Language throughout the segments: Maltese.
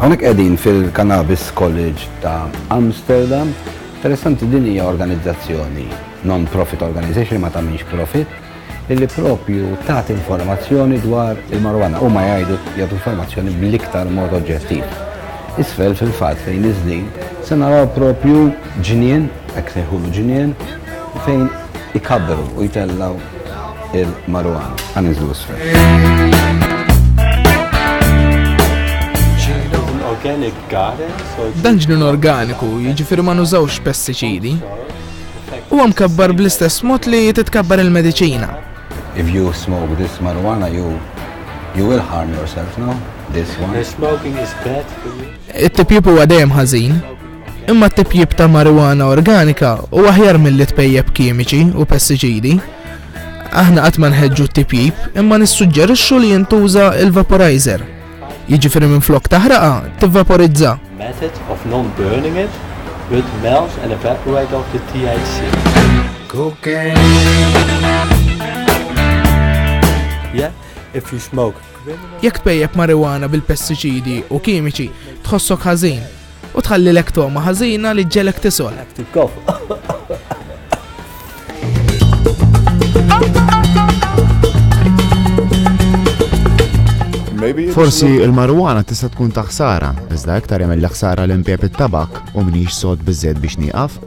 Għonek edin fil-Cannabis College ta' Amsterdam, interessanti din hija organizzazzjoni, non-profit organization ma tamiex profit, illi propju tat informazzjoni dwar il-marwana u ma jgħidu jgħat informazzjoni bl-iktar mod oġġettiv. Isfel fil-fat fejn iż-żnin se naraw propju ġnien, hekk sejħulu ġnien, fejn ikabberu u jtellaw il-marwan għan iżlu isfel. Dan ġnun organiku, jiġifieri ma nużawx pestiċidi, huwa mkabbar bl-istess mod li titkabbar il-mediċina. If you smoke this marijuana, you you will harm yourself, no? This one. Smoking is bad for you. It-tipjib huwa dejjem ħażin. Imma t-tipjip ta' marijuana organika u aħjar milli tpejjep kimiċi u pestiċidi. Aħna qatt ma nħeġġu t-tipjip imma nissuġġerixxu li jintuża il-vaporizer. Jiġifieri minflok taħraqa, tivvaporizza. Method of non-burning it with melt and evaporate of the THC. Cocaine. Yeah, if you smoke Jekk tpejjep marijuana bil-pestiċidi u kimiċi, tħossok ħażin u tħallilek toma ħażina li ġelek tisol. Forsi il-marwana tista' tkun taħsara, iżda iktar jagħmel ħsara l impjeb it-tabak u mniex sod biżżejjed biex nieqaf.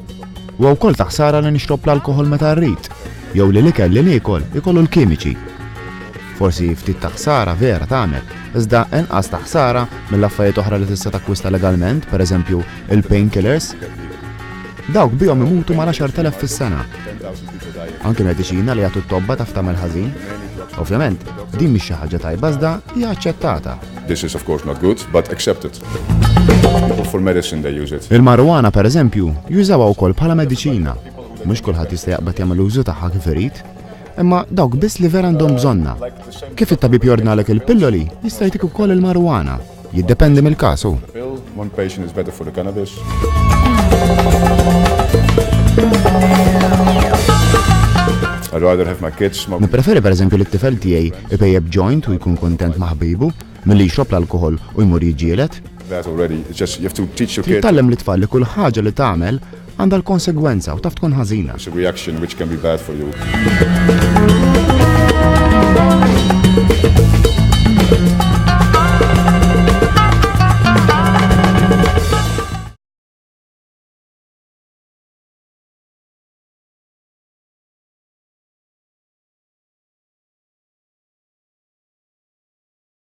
U wkoll taħsara li nixrob l-alkoħol meta rrid, jew li l-ikel li niekol ikollu l-kimiċi Forsi ftit ta' ħsara vera tagħmel, iżda inqas ta' ħsara mill-affarijiet oħra li tista' takkwista legalment, pereżempju il-painkillers. Dawk bihom imutu ma' 10,000 fis-sena. Anke mediċina li jagħtu t-tobba taf tagħmel ħażin. Ovvjament, din mhix xi ħaġa tajba iżda hija aċċettata. This is of course not good, but accepted. For medicine they use it. Il-marijuana pereżempju jużawha wkoll bħala mediċina. Mhux kulħadd jista' jaqbad jagħmel użu tagħha kif irid. Imma dawk biss li vera għandhom bżonnha. Kif it-tabib jordnalek il-pilloli, jista' jtik ukoll il-marijuana. Jiddependi mill-każ hu. Nippreferi pereżempju li t-tifel tiegħi ipejjeb joint u jkun kuntent ma' ħbibu milli jixrob l-alkoħol u jmur jiġġieled. Trid tgħallem lit-tfal li kull ħaġa li tagħmel għandha l-konsegwenza u taf tkun ħażina. Reaction which can be bad for you.